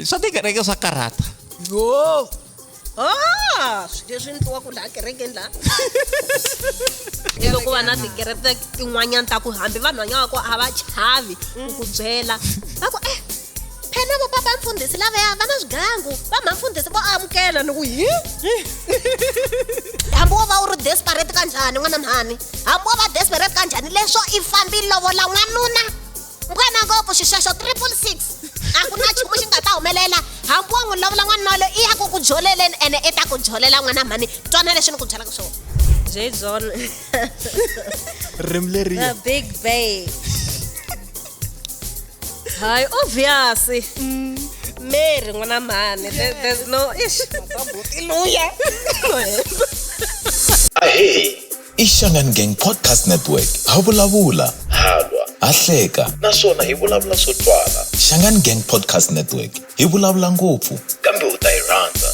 swa tikereke swa karhata yo ah swilo leswi ni tiwaku laha kerekeni laha i loko va na tikereke tin'wanyana ta ku hambi vanhu vanyawaku a va chavi ku ku byela va ku eh Phela bo baba mfundisi laveya va na swigangu va mhani mfundisi vo amukela ni ku hi hambi wo va u ri desperate ka njhani n'wana mhani hambi wo va desperate ka njhani leswo i fambi lovola n'wanuna ngwena ngopfu xixexo triple six a ku na nchumu xi nga ta humelela hambi wo n'wi lovola n'wanuna walo i ya ku ku joleleni ene i ta ku jolela n'wana mhani twana leswi ni ku byelaka swona jay john ririmi leriya big bay Hi, obviously. Mm. Mary, ngwana mhani. Yes. There's no ish. Hallelujah. Ahee. Ishangan Gang Podcast Network. Havulavula. Halwa. Ahleka. Naswona hi vulavula swo twala. Shangan Gang Podcast Network. Hi vulavula ngopfu. Kambe u ta yi rhandza.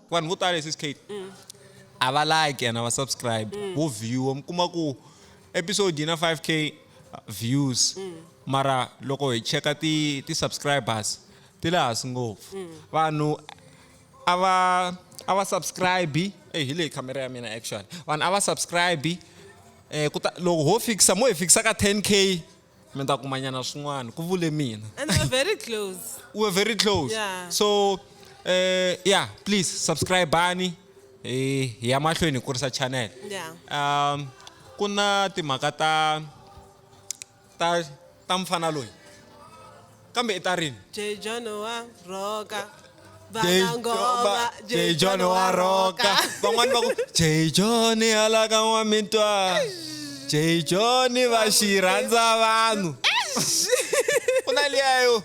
vanhu vo tala sis kate mm. a va like and a va subscribe mm. vo viewa mi kuma ku episode yi na 5k views mm. mara loko hi cheka ti ti subscribers ti le hansi ngopfu mm. vanhu a va a va subscribe eyi hi leyi camera ya mina actually vanhu a va subscribe um eh, kuta loko ho fikisa mo hi fikisa ka 10 k mi ta kumanyana swin'wana ku vule mina And we're very close. we were very close Yeah. so uh, yeah please subscribe ani hi hi ya mahlweni hi kurisa channel Yeah. um ku na timhaka ta ta ta mfana loyi kambe i ta rini Jay John wa roka Jay- vana ngoma va- Jay John wa roka van'wani va ku Jay John halaka n'wa mitwa Jay John va xi rhandza vanhu ku na liya yo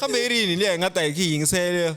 kambe i rini liya hi nga ta hi ki yingisela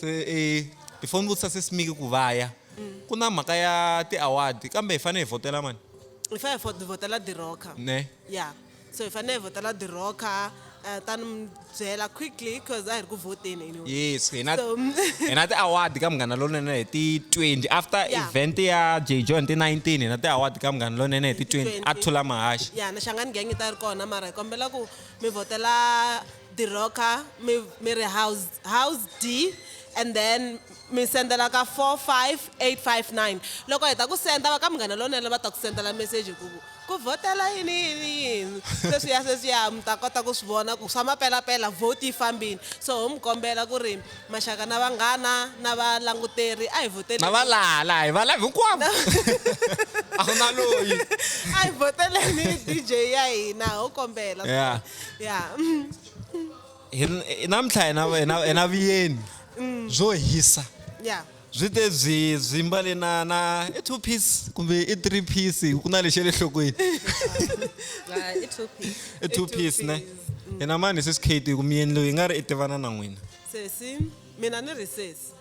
se e hi foni vutisa sesimiki ku vaya mm. ku na mhaka ya ti-award kambe hi fanele hi vhotela mani hi fanele hi vhotela diroka ne ya so hi fanele hi vhotela diroka eh, ta ni byela quickly because a hi ri ku vhoteni anyway yes hina hina ti-award ka munghana lonene hi ti-twenty after event ya j john ti-nineteen hina ti-award ka munghana lonene hi ti-twenty a thula mahaxi ya na xangani gang yi ta ri kona mara hi kombela ku mi vhotela diroka mi mi ri house house D and then mi sendela ka 45859 loko heta ku senda va ka munghana lonene va ta ku sendela message ku ku vhotela yini yini yini sweswiya sweswiya mi ta kota ku swi vona ku swa mapelapela vote yi fambile so ho mi kombela ku ri maxaka na vanghana na valanguteri a hi vhoteli na va laha laha hi va lava hinkwavo a ku na loyi a hi vhoteleni dj ya hina ho kombela yeah. ya Hi ri- hi namuntlha hi na- hi na- hi na vuyeni byo hisa ya byi te byi byi mbale na na i two piece kumbe i three piece ku na lexi ya le nhlokweni la i two piece i two piece ne hina mani hi sesi kate ku miyeni loyi hi nga ri i tivana na n'wina sesi mina ni ri sesi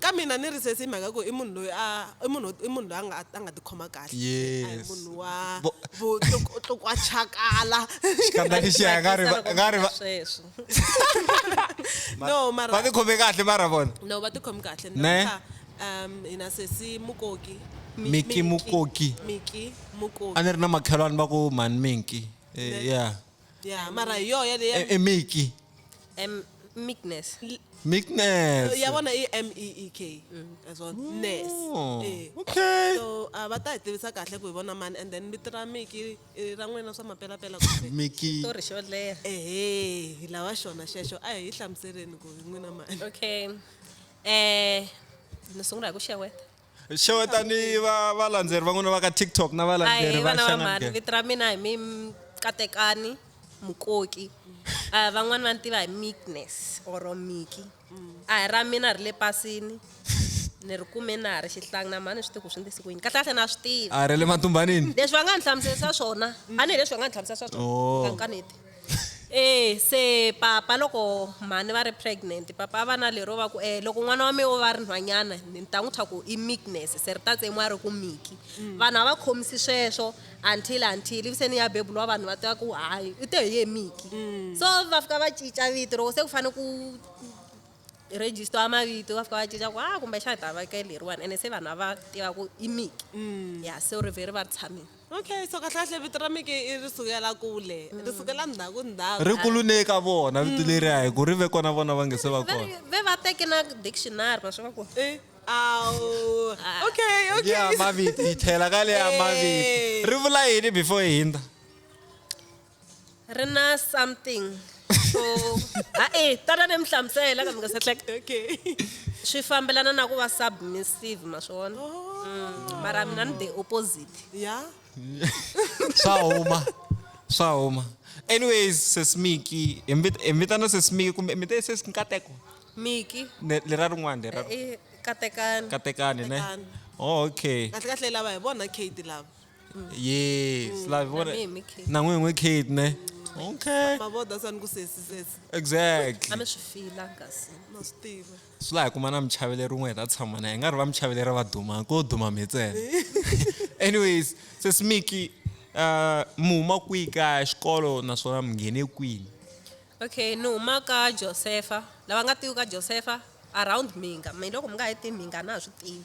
Ka mina ni ri sesi hi mhaka ku i munhu loyi a i munhu i munhu loyi a nga a nga tikhoma kahle a hi munhu wa vo tlukwachakala no mara va tikhome kahle mara vona no va tikhome kahle ne um hina sesi mukoki miki mukoki miki mukoki a ni ri na makhelwani va ku mhani minki eh, ya Yeah, mara yo yale ya E- emeki Um, meekness. meekness ya bona i M E E K as well. Ness. Oh, Eh. okay So a va ta hi tivisa kahle ku hi vona mani and then vito ra Miki i ra n'wina swa mapelapela kumbe meki Story xo leha. ehe hi lava xona xexo a hi hlamuseleni ku hi n'wina mani Okay. Eh, ni sungula hi ku xeweta. xewetani va valandzeri van'wana va ka tiktok na valandzeri va xangamhani vito ra mina hi mi katekani mukoki um van'wani va ni tiva hi meekness or miki a hi ra mina ri le pasini ni ri kume na ha ri xihlangi na mhani swi tiku swi ndisi ku yini kahle kahle na swi tiva a ri le matumbanini leswi va nga ni hlamuselisa swona a ni hi leswi va nga ni hlamuselisa swona oh. kankaneti e se papa loko mhani va ri pregnant papa va na lero va ku e loko n'wana wa mina o va ri nhwanyana ni ta n'wi thwa ku i meekness se ri ta tsemiwa ri ku miki mm. vanhu a va khomisi sweswo until until ivi se ni ya bebuliwa vanhu va tiva ku hayi u te hi ye miki mm. so va fika va cinca vito loko se ku fanele ku register wa mavito va fika va cinca ku ha ah, kumbexana hi ta veke leriwani ene se vanhu a va tiva ku i miki mm. ya so ri vhe ri va ri tshamile Okay, so kahle-kahle vito ra Miki i ri sukela kule, ri sukela ndzhaku-ndzhaku. Ri kulune eka vona vito leriya hi ku ri ve kona vona va nga se va Ve kona. ri- ve va teke na dictionary ma swi va ku Eh, awu. Okay, okay. Liya mavito hi tlhela ka liya mavito. Eh. Ri vula yini before hi hindza? ri na something so ha e tala ni mi hlamusela kambe nga se hleka okay swi fambelana na ku va submissive ma swi vona oh. mm, mara mina ni the opposite ya swa huma swa huma anyways sesimiki hi vitana sesimiki kumbe mi te sesi nkateko miki lera rin'wana lera eh, eh, katekani katekani ne oh, okay kahle kahle lava hi vona kate lava Mm. yes like vona Nami yimi Kate. na n'wini n'wi kate ne okay mavoda sani ku sesisesa a exactly mi swi fila kasi ma swi tiva swi laha kuma na muchaveleri rin'we hi ta tshama na hi nga ri va muchaveleri va duma ko duma mi ntsena anyways sesimiki uh, mi huma kwihi ka xikolo naswona mi nghene kwini okay ni huma ka josefa lava nga tivi ka josefa around mhinga mi loko mi nga yi tivi mhinga a na ha swi tivi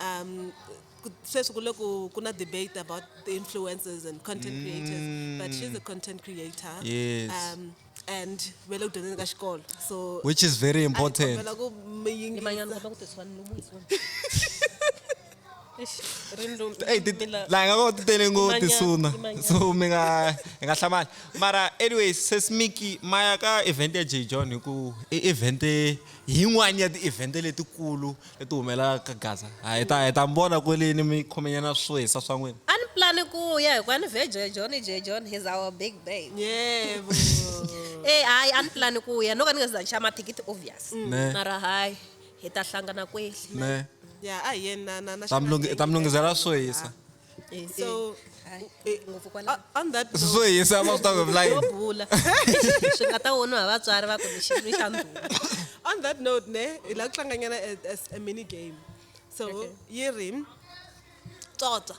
Um, ku- sweswi ku le ku ku na debate about the influencers and content creators but she's a content creator Mm. Yes. um, and ve le ku dyondzeni ka xikolo so which is very important kombela ku mi yingisa Imanyana kopa kuti swani lomu hi swona. Eish, Rindo. Hey, ti- Mila- la hi nga koti tele ngo Imanyana, tisuna imanyana. so mi nga hi nga hlamali mara anyways sesmiki maya ka event ya j john hi ku i event yin'wani ya ti-event letikulu i ti humela ka gaza ha hi ta hi ta mi vona kweleni mi khomenyana swo hisa swa n'wina a ni plani ku ya hikuva ni vhe jejon i jejon he's our big babe yebo e hayi a ni plani ku ya no ka ni nga se za ni xava mathikithi obvious mm. ne mara hayi hi ta hlangana kweli ne ya a hi yeni na na na ta mi lungi- ta mi lungisela swo hisa Eh, so eh, eh, ngopfu kwala on that note- so hi yisa most of the line yo bula swi nga ta voniwa hi vatswari va ku ni xinwi xa ndhuma on that note ne hi la ku tlanganyana a- as a mini game so yi ri tsotsa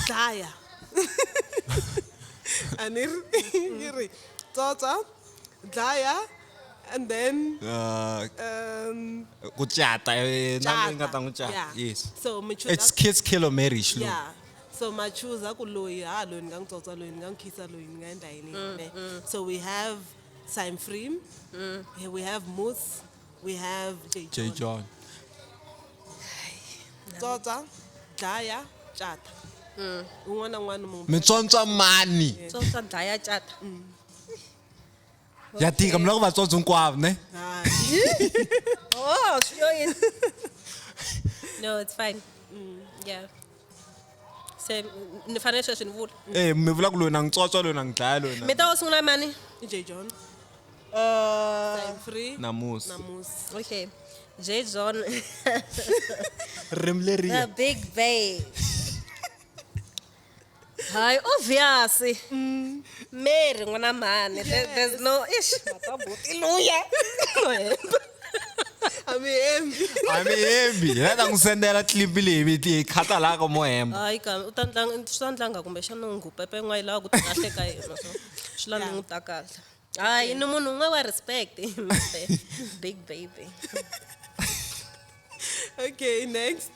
dlaya a ni ri yi ri tsotsa dlaya and then uh, um, ku cata eh, nani nga ta n'wi cata yeah. yes so mi choose it's kids kill or marriage lo yeah so ma choose ku loyi ha loyi ni nga n'wi tsotsa loyi ni nga n'wi khisa loyi ni nga endla yini mm, ne mm. so we have Sam Freem mm. we have Moose we have J John, J. John. tsotsa dlaya cata mm. un'wana na un'wana munhu mi tsontswa mani tsotsa dlaya cata mm. ya tika mi lava ku vatsondzo hinkwavo ne oh swi yo yini no it's fine mm, yeah se ni fanele sweswi ni vula e mi vula ku loyi na ngitswotswa loyi na ngidlaya loyi mi ta wo sungula mani j john uh, free namusi namusi okay j john rim leri big bay Hi, obvious. Mm. Mary, ngwana mhani. Yes. There, there's no ish. Hallelujah. amihembi amihembi laka n'wi sendela tlipi leyi viti yi khata laha ka mohemba hayi ka u ta ndlanga swi ta ndlanga kumbexana u ngupepe n'wa yi lava ku tikahle ka yena so swi lava n'wi ta kahle hayi ni munhu un'we wa respect big baby okay next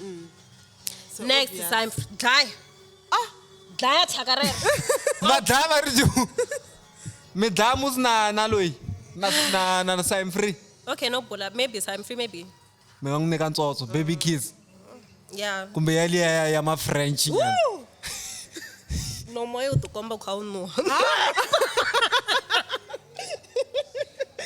mm. so next obvious. time dlaya ah dlaya thyaka rero va dlaya va ri ju mi dlaya musi na na loyi na na na na sign free okay no bula maybe sign free maybe mi nga n'wi nyika ntsotso baby kids yeah kumbe ya liya ya ya ma french nyana no moya u tikomba u kha u nuha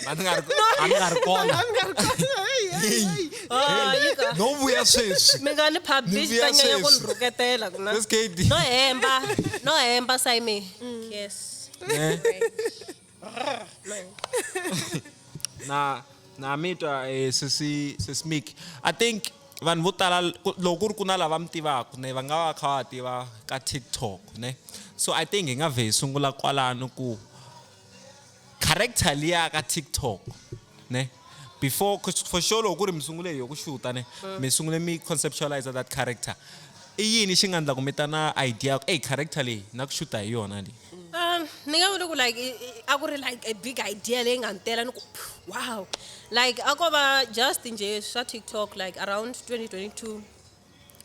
Mani nga ri mani nga ri kona. mi nga ri kona Hey, hey, Hey. hey. Ah, yi ka- No vuya sweswi. mi nga ni Ni publish vuya ta nyanya ku ni sweswi. rhuketela ku na Where's KD? no hemba no hemba sayime yes Eh. na na mitwa eh, sesi sesi Mick i think vanhu vo tala ku- loko ku ri ku na lava mi tivaka ne va nga va kha va tiva ka tiktok ne so i think hi nga vhe hi sungula kwalano ku character liya ka tiktok ne before for sure loko ku ri mi sungule hi ku xuta ne mm. mi sungule mi conceptualize that character i yini xi nga endla ku mi ta na idea ku ey character leyi na ku xuta hi yona leyi um ni nga vula ku like a ku ri like a big idea leyi nga ni tela ni ku wow like a ko va just nje swa tiktok like around 2022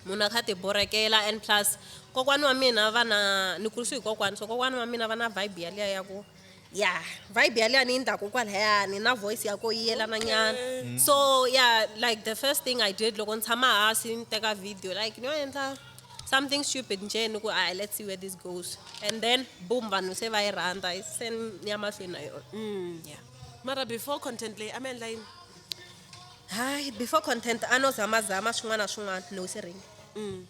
munhu a kha a ti borhekela and plus kokwana wa mina va na ni kurisiwe hi kokwana so kokwana wa mina va na vibe yaliya ya ku ya vibe yaliya ni yi ndhaku kwalayani na voice ya ko yi yelana nyana okay. so yeah like the first thing i did loko ni tshama hasi ni teka video like ni yo endla something stupid nje ni ku i let's see where this goes and then boom vanhu se va yi rhandza se ni ya mahlweni na yona mm. yeah mara before content leyi a mi endla yini hayi before content a no zamazama swin'wana na swin'wana no se ring mm.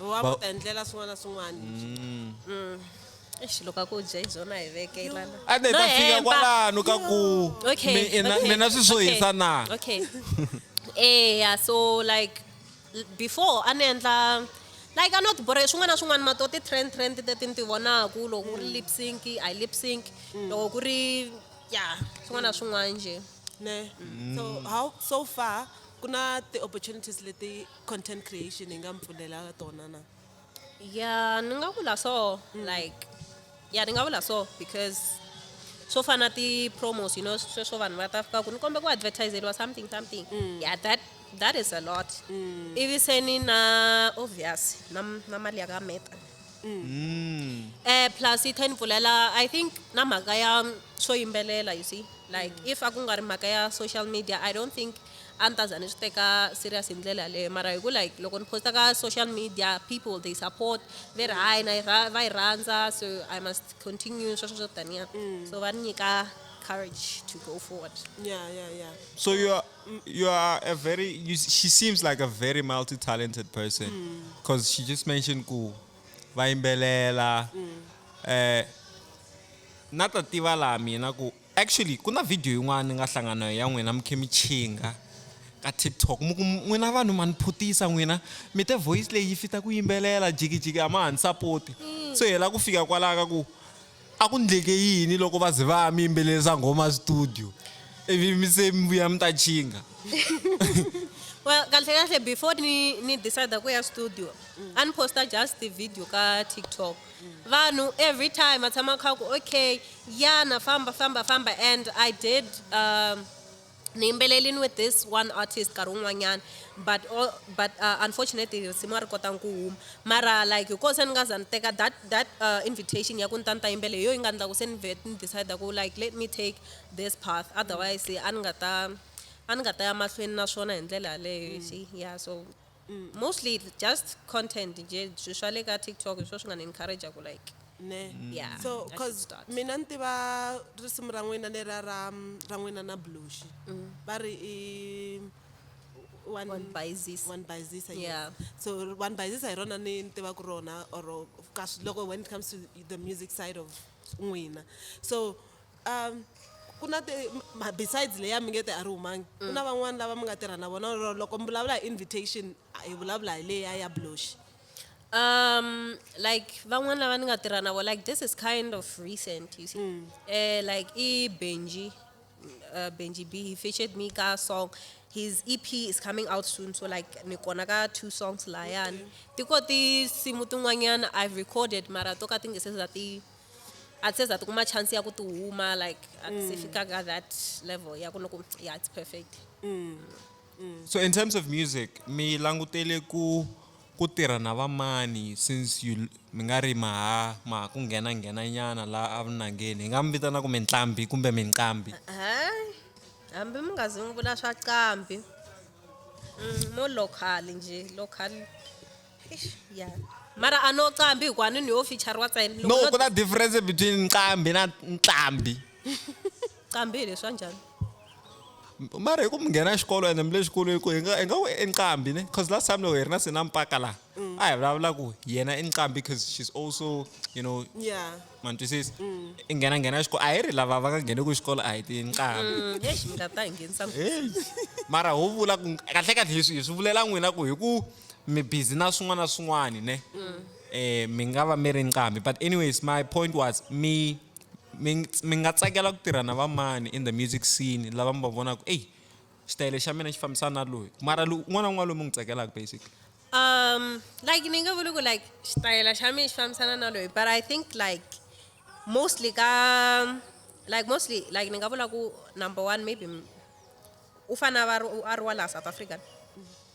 wa Ba- ta endlela swin'wana na swin'wana mm. Eish, loko a ku dya hi byona hi vekelana a ne No ta fika hemba. kwalano ka ku okay mi- ina- okay, mina swi swo okay, hisa na okay eh yeah, so like l- before a ni endla like a no tibore swin'wana na swin'wana mato ti trend trend teti ni ti vonaku loko ku ri lip sync i lip sync loko ku ri ya swin'wana na swin'wana nje ne so how so far ku na ti-opportunities leti content creation yi nga mi pfulelaka tona na ya ni nga vula so like ya ni nga vula so because swo fana na ti-promos you know sweswo vanhu va ta fika ku ni kombe ku advertiseriwa something something yeah that that is a lot ivi se ni na obvious na na mali ya ka meta Mm. Mm. Eh plus yi ten pfulela I think na mhaka ya swo yimbelela you see like mm. if a ku nga ri mhaka ya social media I don't think a ni ta za ni swi teka serious hi ndlela yaleyo mara hi ku like loko ni posta ka social media people they support ve ri hayi na va yi rhandza so I must continue sweswo swo taniya mm. so va ni nyika courage to go forward. Yeah, yeah, yeah. So you are you are a very you, she seems like a very multi-talented person because mm. she just mentioned ku vaimbelela mm. eh na ta tiva laha mina ku actually ku na video yin'wana ni nga hlangana ya n'wina mukhemi chinga ka tiktok mu ku n'wina vanhu ma ni phutisa n'wina mi te voice leyi yi fita ku yimbelela jikijiki a ma ha ni sapoti mm. so hi la ku fika kwalaho ka ku A ku ndleke yini loko va ze va mi yimbelelisa nghoma studio ivi mi se mi vuya mi ta chinga? Well, kahlekahle before ni ni decide ku ya studio a ni posta just ti-video ka TikTok. Vanhu every time va tshama va kha va ku okay yana famba famba famba and I did. ni yimbelelini with this one artist nkarhi wun'wanyana but all, but uh, unfortunately risimu a ri kotanga ku huma mara like hi koho se ni nga za ni teka that that uh, invitation ya ku ni ta ni ta yimbele hi yo yi nga endla ku se ni vet ni decide ku like let me take this path otherwise a ni nga ta a ni nga ta ya mahlweni na swona hi ndlela yaleyo mm. ya so Mm, mostly it's just content nje swi swa le ka tiktok hi swo swi nga ni encourager ku like ne Yeah, I so should cause start. mina ni tiva risimu ra n'wina leriya ra mm, ra n'wina na blushi Mm. va ri i one One Baizisa. one Baizisa, yes. Yeah. so one Baizisa hi rona ni ni tivaka rona or ka swi- loko when it comes to the music side of n'wina so Um, ku na ti ma- besides leya mi nge te a ri humangi ku na van'wani lava mi nga tirha na vona or loko mi vulavula hi invitation a hi vulavula hi leya ya bloxi um like van'wani lava ni nga tirha na vo like this is kind of recent you see Eh, like i benji uh, benji b he featured me ka song his ep is coming out soon so like ni kona ka two songs layani ti ko tinsimu tin'wanyana i've recorded mara to ka ti nge se za ti a se za tikuma chance ya ku ti huma like a ti se mm. fika ka that level ya ku ni ku ya it's perfect mm. Mm. so in terms of music mi langutele ku ku tirha na vamani since you mi nga ri maha maha ku nghena nghena nyana laha avunangeni hi nga mi vitana ku minqambi kumbe minqambi hambi mi nga zi n'wi vula swa qambi mo local njhe local Eish, ya mara a no qambi hikuva ni ni yo fichariwa tsena Loko no no ku na difference between nqambi na ntlambi qambi hi leswa njhani mara hi ku mi nghena xikolo ende mi le xikolweni ku hi nga hi nga ku i nqambi ne cause last time loko hi ri na sina mpaka laha a hi vulavula ku yena i nqambi cause she's also you know ya ma ni twisisa i nghena nghena xikolo a hi ri lava va nga ngheneki xikolo a hi ti nqambi Mm, eish mi nga ta hi nghenisa Hey, mara ho vula ku kahlekahle hi swi hi swi vulela n'wina ku hi ku mi busy na swin'wana na swin'wana ne mm. eh mi nga va mi ri nqambi but anyways my point was mi mi nga tsakela ku tirha na vamani in the music scene lava mi va vonaka eyi xitayele xa mina xi fambisana na loyi mara un'wana na un'wana loyi mi n'wi tsakelaka basically um like ni nga vuli ku like xitayela xa mina xi fambisana na loyi but i think like mostly ka like mostly like ni nga vula ku number one maybe u fane a va a ri wa laha south africa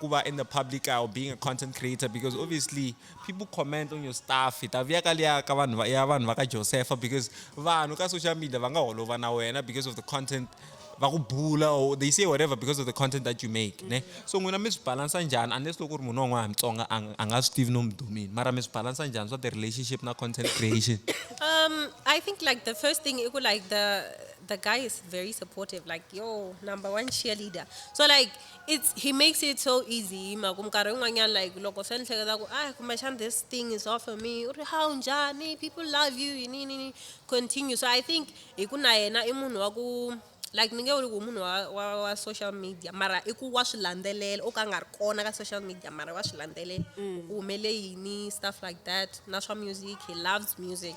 ku va in the public eye or being a content creator because obviously people comment on your stuff hi ta vuya ka liya ka vanhu va- ya vanhu va ka josepha because vanhu ka social media va nga holova na wena because of the content va ku bula or they say whatever because of the content that you make ne so n'wina mi swi balansa njhani unless loko ku ri munhu wan'wana mutsonga a nga- a nga swi tivi no mi dumini mara mi swi balansa njhani swa the relationship na content creation Um, I think like the first thing, it could like the the guy is very supportive. Like yo, number one cheerleader. So like It's he makes it so easy hi mhaka ku minkarhi yin'wanyana like loko se ni hleketa ku a kumbexana this thing is off for me u ri hawu njhani people love you yini yini yini continue so i think hi ku na yena i munhu wa ku like ni nge vuli ku munhu wa wa wa social media mara i ku wa swi landzelela o ka a nga ri kona ka social media mara wa swi landzelela ku humele yini stuff like that na swa music he loves music.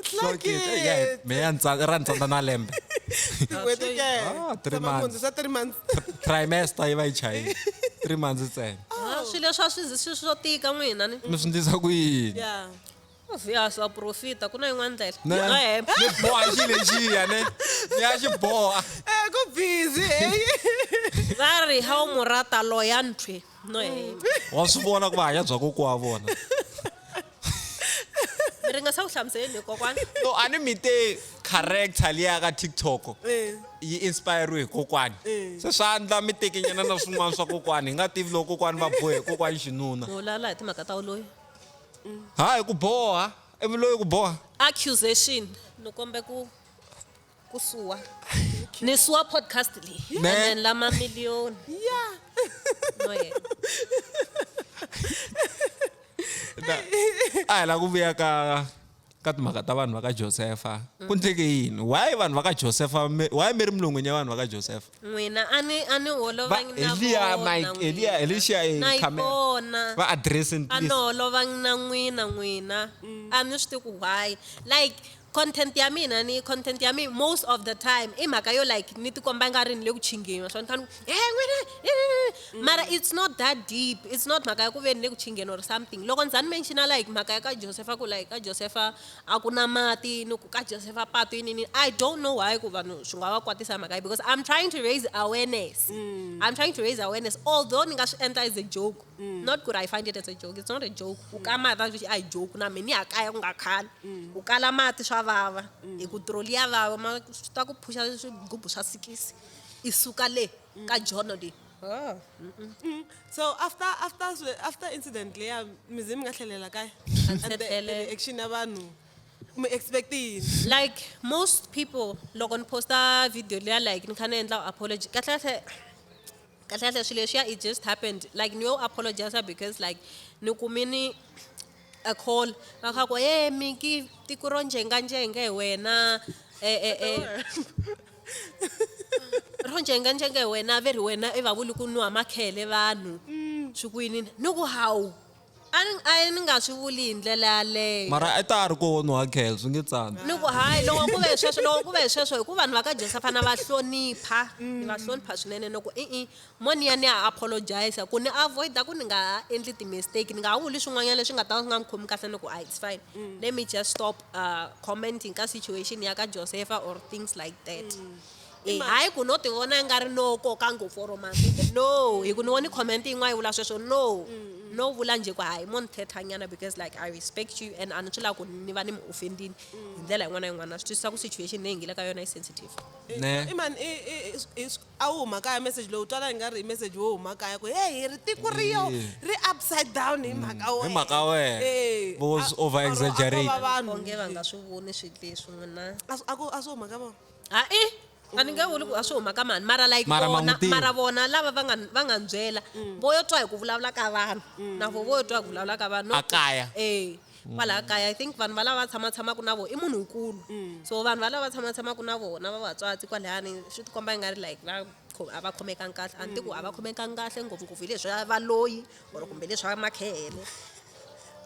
It's Sure like kid. Eh, yeah, it. me ya ntsa- ra ntsandza na lembe Tin'hweti ke. Ah, three Tshama months. munhu, swa three months. trimester yi va yi chayile three months ntsena Ah, swilo leswi a swi zi- swi swo tika n'wina ni mi swi ndlisa ku yini Yeah. ya swa profita ku na yin'wana ndlela Ne? Nga hemba. ni boha xi lexiya ne ni ya xi boha Eh, ku busy. eh. va ri ha wu mu rata loya nthwe no hemba wa swi vona ku va hanya bya kokiwa vona mi ri nga sa ku hlamuseleni hi kokwana no a ni mi te character liya ka tiktok Eh, yi inspiriwe hi kokwani Eh. se swa ndla mi tekenyana na swin'wana swa kokwani hi nga tivi loko kokwani va bohe hi kokwani xinuna mi vulavula hi timhaka ta uloyi ha hi ku boha ivi loyi ku boha accusation ni kombe ku ku suwa ni suwa podcast leyi and Ne. then la mamiliyoni yeah no yena Na- a hi la ku vuya ka ka timhaka ta vanhu va ka josefa ku ndleke yini why vanhu va ka josefa mi- why mi ri milon'wini ya vanhu va ka josefa n'wina a ni a ni Va- holovangi na Eliya, vona Mike, n'wina. Eliya, Elisha, eh, na yi Carmel. vona va addressing a ni please holovangi na n'wina n'wina a ni swi tivi ku why like Content ya mina ni content ya mi most of the time i mhaka yo like ni tikomba nga ri ni le ku chingeni swona kanu he n'wina mara it's not that deep it's not mhaka ya ku ve ni le ku chingeni or something loko ndza ni menxina like mhaka ya ka josefa ku like ka josefa a ku na mati ni ku ka josefa patu yinini i don't know why ku vanhu swi nga va kwatisa mhaka yi because i'm trying to raise awareness mm. i'm trying to raise awareness although ni nga swi endla as a joke mm. not ku ri i find it as a joke it's not a joke u ka mati vaxi a hi joke na mina ni ya kaya ku nga khali mm. u kala mati swa vava mm. hi ku troli ya vava ma swi ta ku phuxa swigubu swa sikisi i suka le ka jono leyi ah. so after after after incident leya mizi mi nga tlhelela kaya action ya vanhu mi expect yini like most people loko ni posta video leya like ni kha ni endla apology kahle kahle kahle kahle swilo leswiya it just happened like ni yo apologize because like ni kumini a call va kha ku ye miki tiko ro njenganjenge hi wena eh, eh, eh. ro njenganjenge hi wena ve ri wena i va vuli ku nwa makhele vanhu swi kwini ni ku hawu A ni, a ni nga swi vuli hi ndlela yaleyo. Mara a ta a ri koho nuha khel swi nge tsandzi. Ni ku hayi loko ku ve hi sweswo loko ku ve hi sweswo hi ku vanhu va ka Jesu a fane a va hlonipha ni va hlonipha swinene ni ku i-i mo ni ya ni ya apologize ku ni avoid-a ku ni nga ha endli ti-mistake ni nga ha vuli swin'wanyana leswi nga ta va swi nga ni khomi kahle ni ku a it's fine let me just stop commenting ka situation ya ka Josefa or things like that. Eh, Mara. hayi ku no ti vona nga ri no koka ngopfu or masiku no hi ku ni voni comment yin'wana yi vula sweswo no no vula njhe ku hayi mo ni thethanyana because like i respect you and a ni swi lava ku ni va ni mi offendini hi ndlela yin'wana na yin'wana na swi twisisa ku situation leyi hi nge le ka yona yi sensitive Ne. imani a wu huma kaya message lowu twala i nga ri i message wo huma kaya ku hey hi ri tiko ri yo Yeah. ri upside down hi mhaka wena Hi mhaka wena. Eh, Vo a- over or- or exaggerate. a ko va vanhu. onge va nga swi voni swilo leswi n'wina a swi- a ku- a swi huma ka vona hae a ni nge vuli ku a swi huma ka mani mara like Mara ma vona n'wi tiva. mara vona lava va nga va nga ni byela vo yo twa hi ku vulavula ka vanhu na vo vo yo twa hi ku vulavula ka vanhu A kaya. e kwalaya kaya i think vanhu valava va tshama tshamaka na vona i munhu nkulu so vanhu valava va tshama tshamaka na vona va vatswatsi kwalayani swi tikomba i nga ri like va kho- a va khomekangi kahle a ni ti ku a va khomekangi kahle ngopfungopfu hi leswi a va loyi or kumbe leswi va makhehele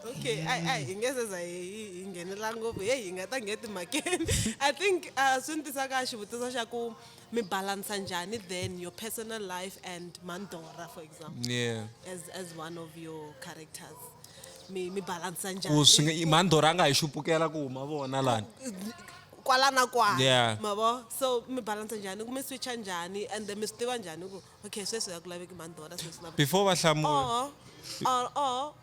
okay a a hi nge seza hi hi- hi nghenela ngopfu heyi hi nga ta ngheti mhakeni i think uh, swi ni tisa ka xivutiso xa ku mi balansa njhani then your personal life and mandora for example yeah as, as one of your characters mi, mi balansa njhani ku swi nga- i- mandora a nga hi xupukela ku huma vona lani kwala na kwala Yeah. mavo so mi balansa njhani ku mi switcha njhani and then mi swi tiva njhani ku Okay, sweswi a ku laveki mhani Dora sweswi na Before va hlamula. or or or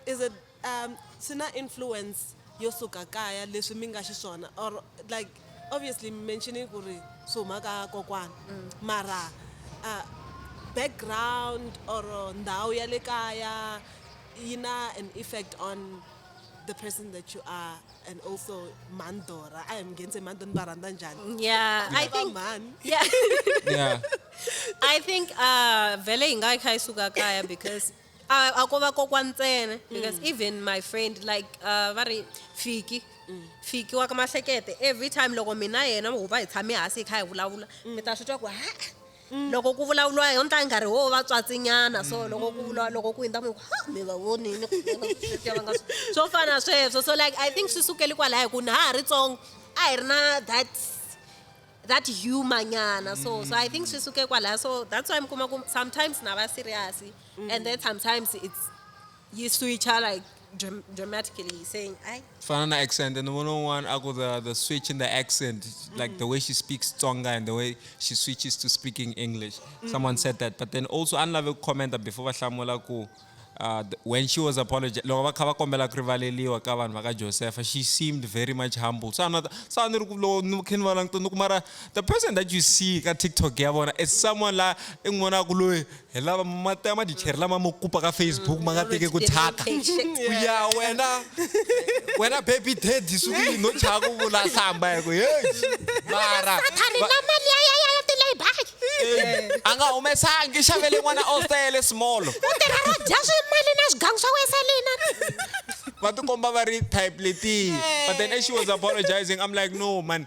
is it um swi na influence yo suka kaya leswi mi nga xiswona or like obviously mi mentioning ku ri swi huma ka kokwana mara uh, background or ndhawu ya le kaya yi na an effect on the person that you are and also mandora a hi mi nghenise mandora ni va rhandza njhani yeah i think mhani yeah yeah i think uh vele hi nga yi kha yi suka kaya because a a ko va kokwa ntsena because mm. even my friend like uh va ri fiki mm. fiki wa ka mahlekete every time loko mina yena ho va hi tshame hansi hi kha hi vulavula mm. mi ta swi twa ku ha Mm. loko ku vulavuriwa hi yona nkarhi wo va tswatsinyana so mm. loko ku vula loko ku hundza mi ha mi va vonini swo fana sweswo so like i think swi sukeli kwalaho hi ku na ha ha ri tsongo a hi ri na that that humor nyana so so i think swi suke kwalaho so that's why mi kuma ku sometimes na va serious mm. and then sometimes it's Yi switcha like dram dramatically saying I Fana na accent and one on one ako the the switch in the accent like the way she speaks Tsonga and the way she switches to speaking English. Someone said that but then also a ni lave ku commenta before va hlamula ku uh, th- when she was apologi loko va kha va kombela ku rivaleliwa ka vanhu va ka Josepha she seemed very much humble. So a ni ta- so a ni ri ku loko ni kha ni va langutile ni ku mara the person that you see ka TikTok ya vona is someone la i n'wi vonaka ku loyi hi lava mati ya madicheri lama mo kupa ka facebook ma nga teke ku thyaka ku ya wena wena baby daddy suku yi no thyaka u vula hlamba hi ku heyi mara a nga humesangi xavele n'wana ostele smolo u tirha ro dya swi mali na swigangu swa weselina va tikomba va ri type letiya but then as she was apologizing i'm like no man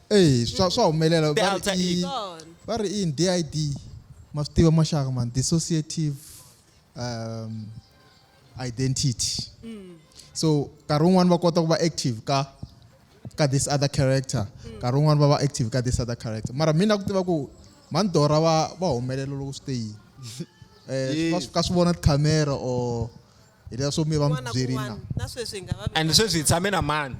eyi swa swa humelela The va alter ri i ego. Gone. va ri i yini did ma swi tiva maxaka mani dissociative um, identity so nkarhi wun'wani va kota ku va active ka ka this other character nkarhi wun'wani va va active ka this other character mara mina ku tiva ku mani dora va va humelela loko swi te yini Eh, Yes. va swi ka swi vona tikhamera or hi leswo mi va mi byerile na na sweswi hi nga va and sweswi hi tshame na mani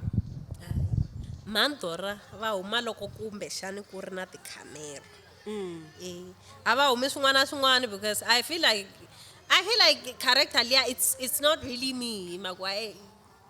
mandora va huma loko kumbe xani ku ri na tikhamera mm. e a va humi swin'wana na swin'wana because i feel like i feel like character liya it's, it's not really me hi maku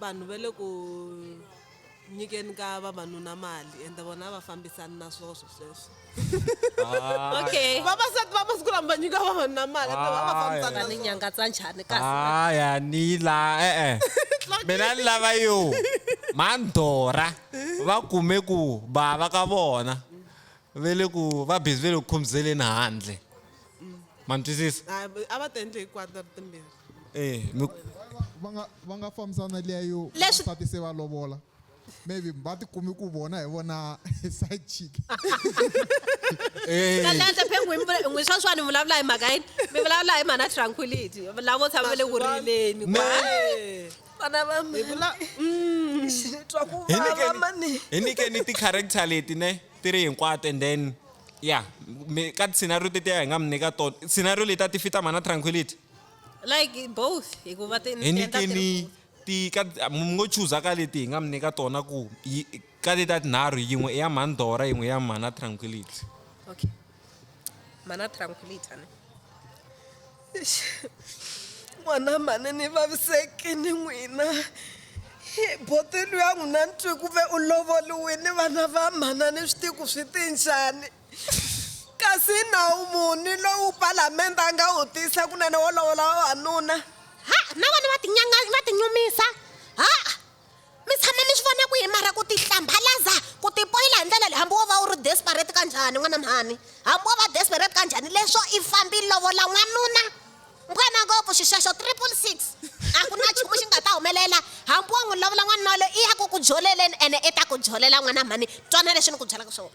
vanhu va le ku nyikeni ka vavanuna mali ende vona a va fambisani na swona swi sweswo Ah, okay vavasati va masiku lama va nyika vavanuna mali ende vona a va Ah, fambisani va na ni swona nyangatsa njhani kasi Ah, ya ni la eh eh. Mina ni lava yo. Mandora va kume ku bava ka vona. Ve le ku va busy ve le ku khumzeleni handle. Ma ni twisisa? Ah, a va ti endle hinkwato ri timbirhi eh mi va nga va nga fambisana liya yo Leswi- vasati se va lovola maybe va tikumi ku vona hi vona side chick eh talenta phe n'wi mi- n'wi sweswani mi vulavula hi mhaka yini mi vulavula hi mhana tranquility lavo tshama va le ku rileni Me- kwa- vana va mi vula Mm. ni twa ku hi vava nyikeni- mani hi nyikeni ti-character leti ne ti ri hinkwato and then ya mi- ka ti-scenario tetiya hi nga mi nyika tona scenario leti a ti fita mana tranquility like both hikuva ti ni endla ti ri- nyikeni ti ka mi ngo chuza ka leti hi nga mi nyika tona ku yi- ka leti ta tinharhu yin'we i ya mhani dora yin'we i ya mhana tranquility okay mana tranquility ne n'wana mhani ni vaviseki ni n'wina Hi, botelu ya n'wina ni twi ku ve u lovoliwini vana va mhana ni swi tiku swi ti njhani Kasi i nawu muni lowu Palamende a nga wu tisa kunene wo lovola vavanuna? Ha, na vona va tinyanga va tinyumisa. Ha, mi tshama mi swi vona kwihi mara ku tihlambalaza, ku tipoyila hi ndlela leyi hambi wo va u ri desperate ka njhani n'wana mhani. Hambi wo va desperate ka njhani leswo i fambi i lovola n'wanuna. Nkwena ngopfu xi xexo triple six. A ku na nchumu xi nga ta humelela hambi wo n'wi lovola n'wanuna waloye i ya ku ku joleleni ene i ta ku jolela n'wana mhani. Twana leswi ni ku byelaka swona.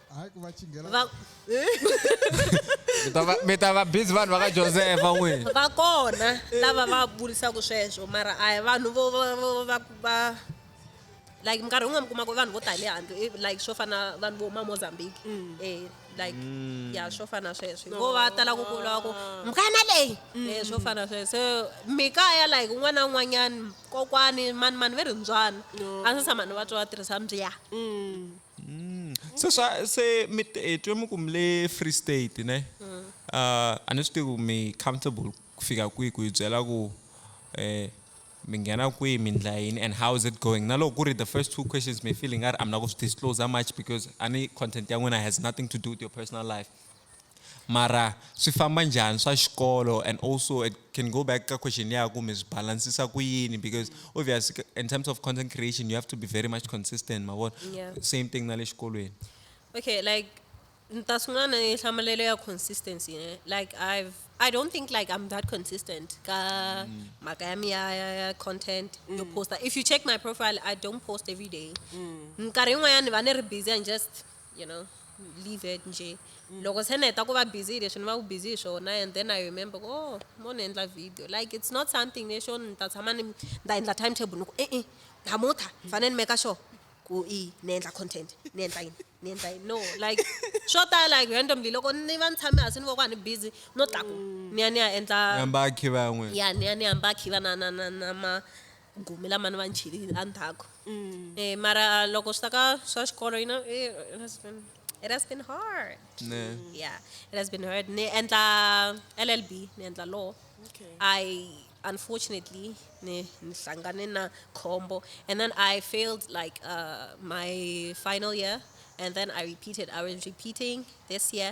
hayi ku va chinghela va Mi ta va- mi ta va busy vanhu va ka josefa n'wini va kona lava va vurisaka sweswo mara a hi vanhu vo vo- vo- va va like minkarhi yin'wana mi kuma ku vanhu vo tale handle eh, like swo fana vanhu vo ma mozambique eh like ya swo fana sweswo vo va tala ku kula ku mukana leyi eh swo fana sweswo so mikaya like un'wana na un'wanyani kokwani mani mani ve ri mbyana a swi tshama ni va twa va tirhisa mbya Mm. Se swa se mi eh, twe mi ku mi le Free State ne. Mm. Uh, a ni swi tivi ku mi comfortable ku fika kwihi ku hi byela ku eh mi nghena kwihi mi ndla yini and how is it going na loko ku ri the first two questions mi feeling nga ri a mi na ku swi disclose much because ani content ya n'wina has nothing to do with your personal life Mara swi famba njhani swa xikolo and also it can go back ka question liya ya ku mi swi balansisa ku yini because obvious in terms of content creation you have to be very much consistent ma vona Yeah. same thing na le xikolweni okay like ni ta sungula na nhlamalelo ya consistency ne like i've i don't think like i'm that consistent ka mhaka ya mi ya ya ya content yo posta if you check my profile i don't post every day minkarhi yin'wanyana ni va ni ri busy and just you know leave it nje mm. loko se ni heta ku va busy hi leswi ni va ku busy hi swona and then i remember ku oh mo ni endla video like it's not something lexo ni ta tshama ni ta endla time table ni ku e-e hamutha ni fanele ni meka sure ku i ni endla content ni endla yini ni endla yini no like swo tala like randomly loko ni va ni tshame hansi ni voka ni busy no tlaku mm. ni ya ni ya endla yamba khiva yan'we ya ni ya ni yamba khiva na na na na ma gumi lama ni va ni chilile la ndzhaku e mara loko swi ta ka swa xikolo you know it has been it has been hard Ne. yeah it has been hard ni endla llb ni endla law Okay. i unfortunately ni ni hlangane na khombo and then i failed like uh, my final year and then i repeated i was repeating this year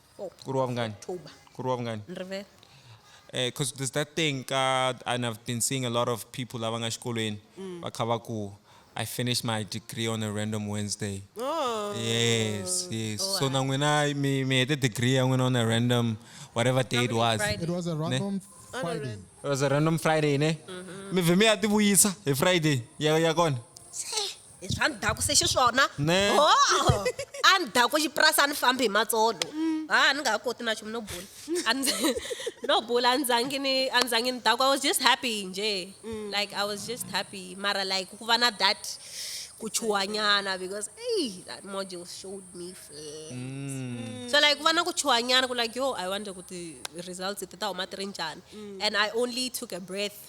Oh, ku ri wa vungani October. ku ri wa vungani Ni rivele. because there's that thing ka and i've been seeing a lot of people lava nga xikolweni va kha va ku i finished my degree on a random wednesday Oh. yes yes so na n'wina mi mi hete degree ya n'wina on a random whatever day it was Friday. It was a random Friday. it was a random friday ne mi vhe mi ya tivuyisa hi friday ya ya kona hi swa ndhaku se xiswona ho a ni daku xipurasi a ni fambi hi matsolo ha ni nga ha koti na nchumu no bula no bula a ndzangi ni a ndzangi ni daku i was just happy nje like i was just happy mara like ku va na that ku chuhanyana because ey that module showed me flames mm. so like ku va na ku chuhanyana ku like yo i wonder ku ti-results ti ta huma ti ri njhani mm. and i only took a breath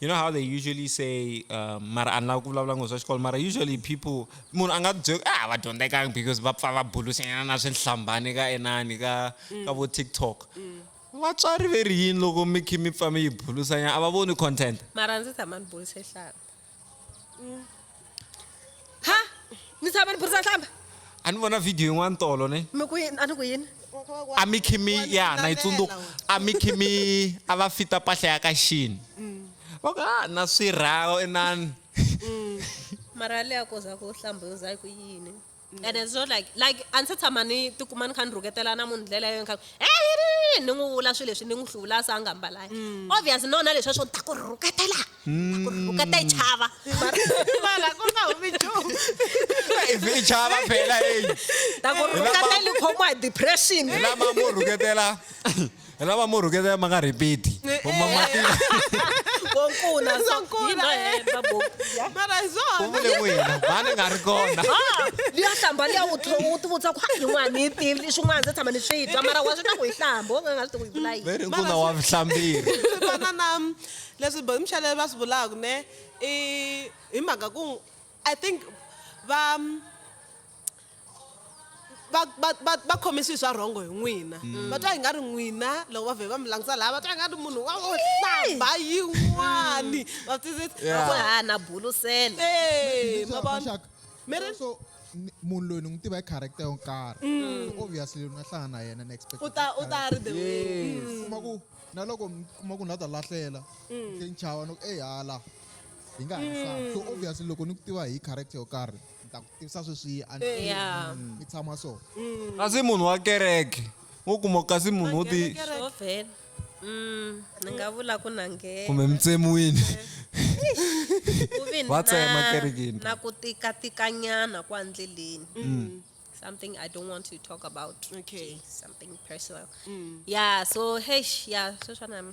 you know how they usually say um, mara a ni lava ku vulavula ngo swa xikolo mara usually people munhu a nga byeli ah va dyondzekanga because va pfa va bulusinyana na swihlambani ka enani ka mm. ka vo tiktok mm. vatswari ve ri yini loko mi khe mi pfa mi yi bulusanyana a va voni content mara ndzi tshama ni buluse hlamba ha ni tshama ni burisa hlamba a ni vona video yin'wana tolo ne mi ku yini a ni ku yini a mi khimi ya na yi tsundzuka a mi khimi a va fita mpahla ya ka xini va ku a na swirhawo inani mara leya koza ku hlamba yo za ku yini and then so like like a ndzi se tshama ni tikuma ni kha ni rhuketela na munhu ndlela yo kha ni n'wi vula swilo leswi ni n'wi hluvula se a nga mbalanga mm. obvious no na leswi swo ni ta ku rhuketela ta ku rhuketa yi chava mara ku nga humi nchumu ivi yi chava phela eyi ta ku rhuketa yi khomiwa hi depression lama mo rhuketela hi lava mo rhuketela ma nga rhipiti umamatile konkuna u vule n'wina mani nga ri kona liya hlamba liya u tlhonga u tivutisa ku yin'wana ni yi tivi swin'wana ndzi tshama ni swi twa mara wa swi ta ku yi hlamba u nga nga swi tivi ku yi vula yini veri nkuna wa vuhlambiri fana na leswi bo mixalelo va swi vulaka ne i hi mhaka ku i think va va va va va khome swilo swa rhongo hi n'wina mm. va twa hi nga ri n'wina loko va vhe va mi langutisa laha va twa hi nga ri munhu wa wo hlamba yin'wani va twisisa na bulusela e ma vona mi ri munhu loyi ni n'wi tiva hi character yo nkarhi mm. so obviously loko na hlangana na yena next u ta u ta ri the way mm. kuma ku na loko mi kuma ku ni la ta lahlela se ni chava no ku eyi hala hi nga ha so obviously loko ni ku tiva hi character yo karhi ni ta ku tivisa sweswi a ni- Eh. Yeah. Mm. ni tshama so kasi munhu wa kereke wo kuma kasi munhu wo ti Swo vhela. Mm, ni nga vula ku na nghena. kumbe mi tsemiwini Ku ve Va tsema na- kerekeni. na ku tikatikanyana kwa ndleleni Mm. something i don't want to talk about Okay. something personal yeah so hesh yeah sweswana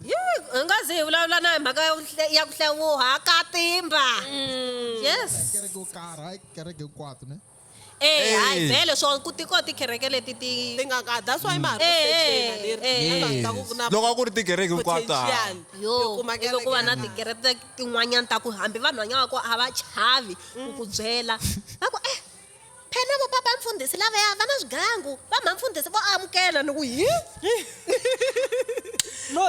yi hi nga zi hi vulavula na hi mhaka ya ku hle- ya ku hlewuha ka timba yes kereke yo karhi hayi kereke hinkwato ne Eh, hayi Eh. vhele swo ku tiko tikereke leti ti ti nga ka that's why mara Eh, eh, leri eh, Yes. nga ta ku ku na loko a ku ri tikereke hinkwato ha. potential yo yo kuma ivi ku va na kereke. tikereke ta- tin'wanyana ta ku hambi vanhu vanyana va ko a va chavi ku ku byela va ku eh Phela vo papa mfundhisi lavaya va na swigangu, va mha mfundhisi vo amukela ni ku hi hi no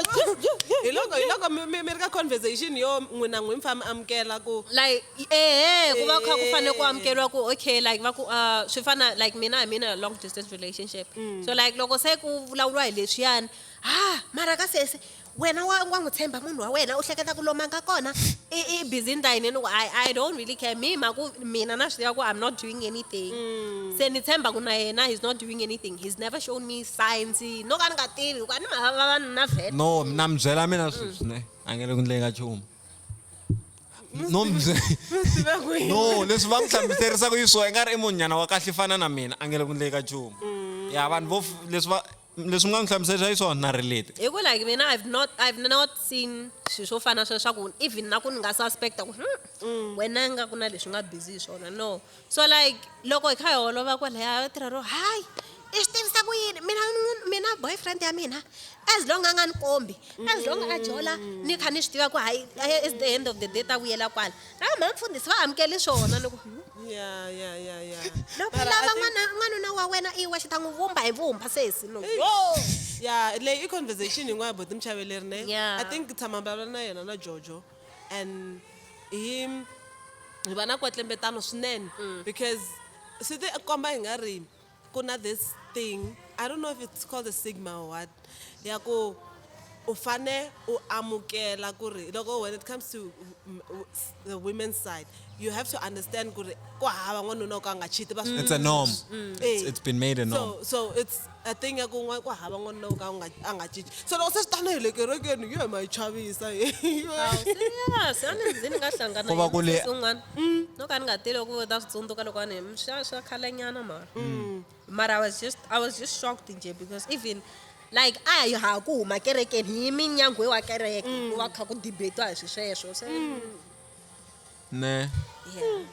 hiloko hiloko mi mi mi ri ka conversation yo n'wina n'wi mi fa mi amukela ku like eeh ku va kha ku fanele ku amukeriwa ku okay like va ku ah swi fana like mina hi mina long distance relationship so like loko se ku vulavuriwa hi leswiyani ha mara ka sesi Wena wa wa n'wi tshemba munhu wa wena u hleketa ku lomu a nga kona i i busy ni ta yini ni ku I I don't really care me ma ku mina na swi tiva ku I'm not doing anything se ni tshemba ku na yena he's not doing anything he's never shown me signs no ka ni nga tivi hikuva ni mhaka vavanuna vhele no na mi byela mina sweswi ne a nge le ku ndleni ka nchumu no mi bye- tiva ku yini no leswi va mi hlamuserisaka yi swo i nga ri i munhu nyana wa kahle i fana na mina a nge le ku ndleni ka nchumu ya vanhu vo f- leswi va leswi nga ni hlamuselisa hi swona na relate hi ku like mina i've not i've not seen swilo swo fana sweswo swa ku even na ku ni nga suspecta ku hmm, mm. wena nga ku na leswi nga busy hi swona no so like loko hi kha hi holova kwalaya yo tirha ro hayi i swi tivisa ku yini mina mina boyfriend ya mina as long a nga ni kombi as long a jola ni kha ni swi tiva ku hayi at the end of the day ta vuyela kwala Nawu ma mfundhisi va amukeli swona loko Ya, ya, ya, ya. loko Mara I lava think- n'wana n'wanuna wa wena i wexe ta n'wi vumba hi vumba sesi no Eish. yo ya leyi i conversation yin'wana boti muchaveleri ne Yeah. i think tshama mbavula na yena na jojo and hi hi va na kwetlembetano swinene because swi ti komba hi nga ri Ku na this thing I don't know if it's called a stigma or what ya ku u fane u amukela ku ri loko when it comes to the women's side you have to understand ku ri ku hava n'wanuna wo ka a nga chiti va It's a norm. Mm. It's, Eh. it's been made a norm. so so it's a thing ya ku n'wa ku hava n'wanuna wo ka a nga a nga chichi so loko se swi tana hi le kerekeni yo ma yi chavisa Awu, serious a ni ndzi ni nga hlangana Ku va ku le- yini un'wana Mm. No ka ni nga tele ku ta swi tsundzuka loko a ni mm, swa swa khalenyana mara. Mm. Mara I was just I was just shocked nje because even like a hi ha ku huma kerekeni hi minyangwe wa kereke mm. ku va kha ku debatiwa hi swi sweswo se mm. ne yeah.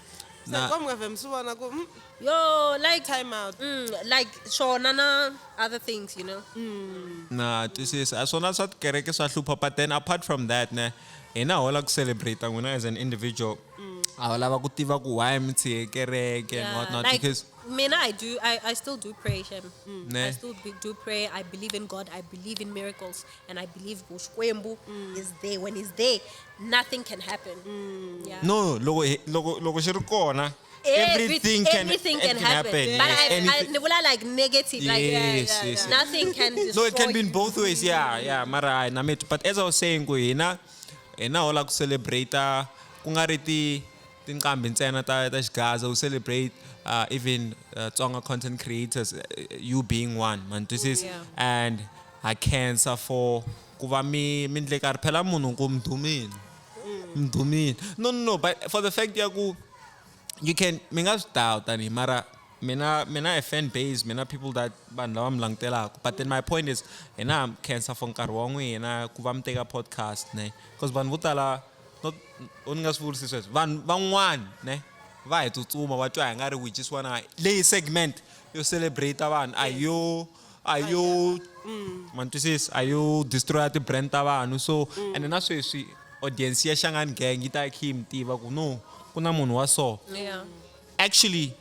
na kom nga vem sivona ku mm. yo like time out mm, like swona na other things you know mm. na twisisa a swona swa tikereke swa hlupha but then apart from that ne hina ho la ku celebrate n'wina as an individual mm. a va lava ku tiva ku why mi tshiye kereke and what not because mina i do i, I still do pray shem mm. i still be, do pray i believe in god i believe in miracles and i believe xikwembu mm. is there when he's there nothing can happen mm. yeah. no loko loko loko xi ri kona Everything can- everything can, it can happen. happen, But yes, I, I, anything. ni vula like negative, like Yes, yes, yes. nothing can destroy. no it can be in you. both ways yeah yeah mara hayi na metu but as i was saying ku hina hina ho la ku celebrate ku nga ri ti tinqambi ntsena ta ta xigaza u celebrate uh, even uh, tsonga content creators uh, you being one man this is Yeah. and ha cancer for ku va mi mi ndle karhi phela munhu ku mdumile mdumile no no no but for the fact ya ku you can mi nga swi dawu tanihi mara mina mina a fan base mina people that vanhu lava mi langutelaka but then my point is hina ha khensa for nkarhi wa n'wina ku va mi teka podcast ne because vanhu vo tala u ni nga swi vurisi sweswo vanhu van'wana ne va hi tsutsuma va twa hi nga ri we just wanna leyi segment yo celebrate vanhu a yo a yo mm. ma twisisi a yo destroya ti-brand ta vanhu so mm. ene na sweswi audience ya xangani gang yi ta yi khe yi mi tiva ku no ku na munhu wa so actually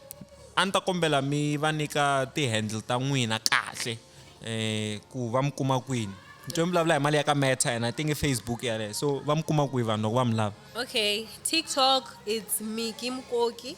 a ni ta kombela mi va nyika ti-handle ta n'wina kahle um ku va mi kuma kwini nto mi vulavula hi mali ya ka meta yena tinge facebook yaleyo so va mi kuma kwihi vanhu loko va mi lava okay tiktok it's miki mkoki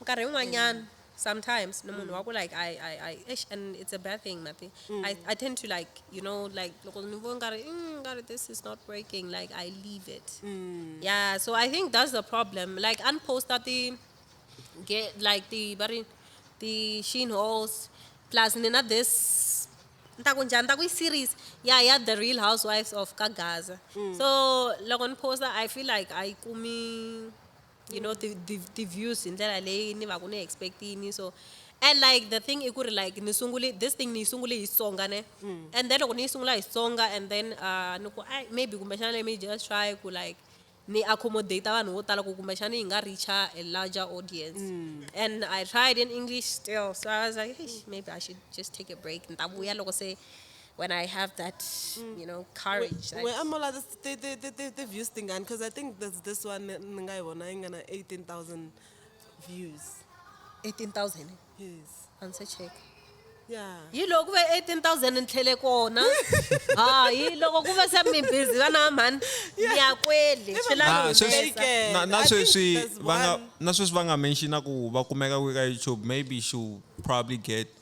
nkarhi yin'wanyana mm. sometimes ni munhu mm. wa ku like I, I, I, ish, and it's a bad thing mati mm. I, i tend to like you know like loko ni vo nkarhi mm, nkarhi this is not working like i leave it mm. yeah so i think that's the problem like unposta ti get like ti va ri ti sheen halls plus ni na this ni ta ku njhani ni ta ku yi series ya ya the real housewives of ka gaza mm. so loko ni posta i feel like a yi kumi you know ti, ti, ti views hi ndlela leyi ni va ku ni expectini so and like the thing i ku ri like ni sungule this thing ni yi sungule hi Xitsonga ne mm. and then loko ni yi sungula hi Xitsonga and then uh, ni ku ai maybe kumbexana let me just try ku like ni accommodate vanhu vo tala ku kumbexana yi nga reacha a larger audience mm. and i tried in english still so i was like hey, maybe i should just take a break ni ta vuya loko se when I have that, you know, courage. Wait, I'm all this the the the the, the views thing and because I think there's this one ngai one I'm gonna eighteen thousand views. Eighteen thousand. Yes. And so check. Yeah. yi loko ku ve 18000 ni tlhele kona hayi loko ku ve se mi busy vana mhani ya kwele ah, na sweswi va nga na sweswi va nga mentionaku va kumeka kwi ka youtube maybe she probably get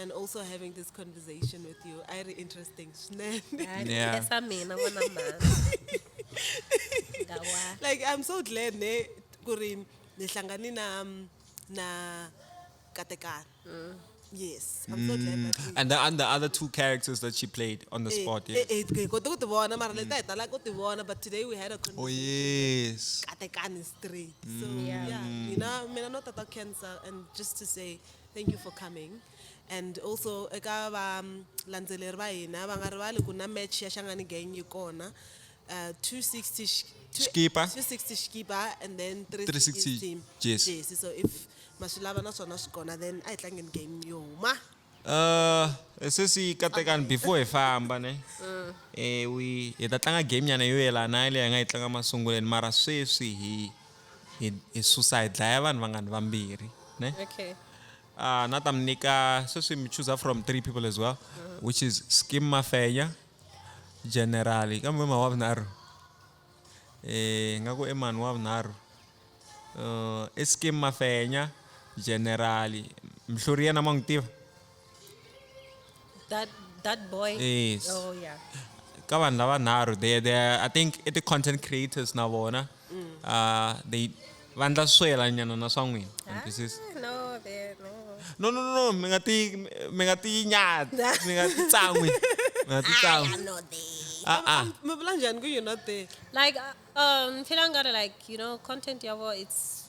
and also having this conversation with you i ri interesting swinene Yeah. Esa mina n'wana mhani. Nga wa. like i'm so glad ne ku ri ni hlangane na um, na katekana yes i'm so glad that we- And the, and the other two characters that she played on the Eh, spot. eh, Yes. eh, hi kote ku ti vona mara leta hi tala ku ti vona but today we had a Oh conversation yes. katekani straight so Yeah. yeah mina mina no tata cancer and just to say Thank you for coming and also eka va landzeleri va hina va nga rivali ku na match ya Shangani Gang yi kona uh, 260 Xikipa. 260 Xikipa and then 360 Team Jesi. Jesi so if maswilava na swona swi kona then a hi tlangeni game yo huma Uh, sesi katekani before hi famba ne eh we hi ta tlanga game nyana yo yelana na leyi hi nga yi tlanga masunguleni mara sweswi hi hi, hi susa hi dlaya vanhu vangani vambirhi ne okay uh, na ta mi nyika sweswi mi chooser from three people as well uh-huh. which is skim mafenya generali kambe ma wa vunharhu eh nga ku eman wa vunharhu uh, eh, i skim mafenya generali mhluri yena ma n'wi tiva That that boy. Yes. Oh yeah. ka vanhu lavanharhu they they i think i ti-content creators na vona mm. uh, they va ndla swela nyana na swa n'wina ah, no no no no mi nga ti mi nga ti nyati mi nga ti tsan'wi mi nga ti tsan'wi ah ah mi vula njhani ku you're not there like uh, um phela nga ri like you know content ya vo it's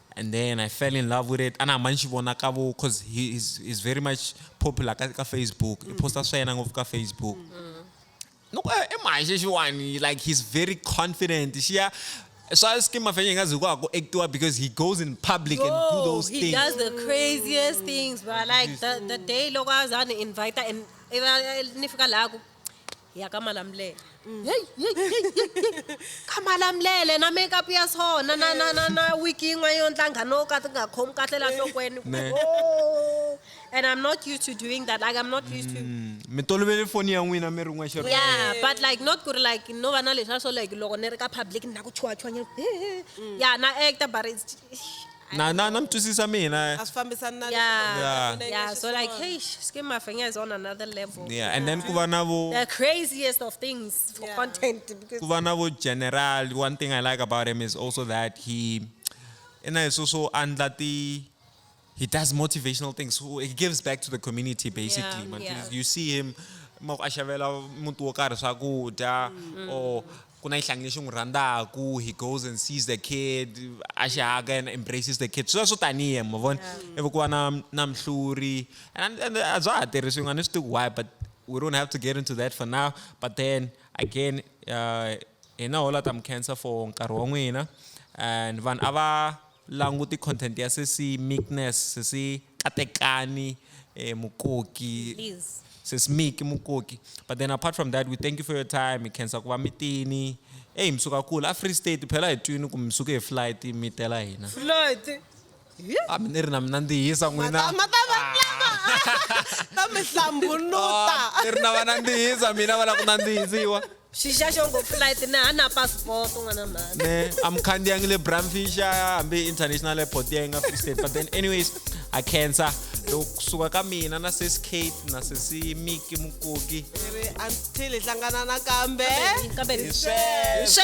and then I fell in love with it ana hamba ni xi vona ka vo cause he is, is very much popular ka, ka facebook mm. i posta swa yena ngopfu ka facebook mm. loko eh, i manje xiwani like he's very confident xiya swa skim mafenya hi nga zi ku a ku actiwa because he goes in public Yo, and do those he things he does the craziest things but like the, the day loko a za ni invita and ni fika laha ku ya ka malamulele mm. hey, hey, hey, hey, ka malamulele na makeup ya so na na na na na week yin'we yo ntlanga no ka ti nga khomi kahle la nhlokweni oh. and i'm not used to doing that like i'm not used to mm. mi tolovele foni ya n'wina mi ri n'wexe yeah but like not ku ri like no va na leswi a swo like loko ni ri ka public ni na ku chuwachuwanyana mm. ya na actor but it's na na na mi twisisa mina a swi fambisani na Yeah. Yeah. Mina Yeah, so like, xiswona. hey, Skim Mafenya is on another level. yeah and then ku va na vo The craziest of things for Yeah. content because ku va na vo general one thing i like about him is also that he and i so so andla ti he does motivational things so he gives back to the community basically man. yeah. you see him ma ku a xavela muti wo karhi swakudya or ku na xihlangi lexi n'wi rhandzaku he goes and sees the kid a xi haka and embraces the kid swi swo tanihi ma vona ivi ku va na na mhluri and and a bya ha tirhisiwi nga ni swi tivi why but we don't have to get into that for now but then again uh, hina hola ta mi cancer for nkarhi wa n'wina and vanhu a va languti content ya sesi meekness sesi Katekani eh, Mukoki. Please. Sis Miki Mukoki. But then apart from that, we thank you for your time. Hi khensa ku va mitini. Hey, mi suka kula. A Free State phela hi twini ku mi suke hi flight mi tela hina. Floyd. A mi ni ri na mina ndzi hisa n'wina. Mata- mata- mata- ta mi hlambuluta. Ni ri na va nandzihisa mina va lava ku nandzihisiwa. xixa xo ngo flight na ha na passport n'wana mhani ne amkhandiyangi le bramfisha hambi international airport ya yi nga free state but then anyways a cancer loko kusuka ka mina na sis kate na sisi miki mukoki ri until hi hlangana nakambe kambe hi sweswo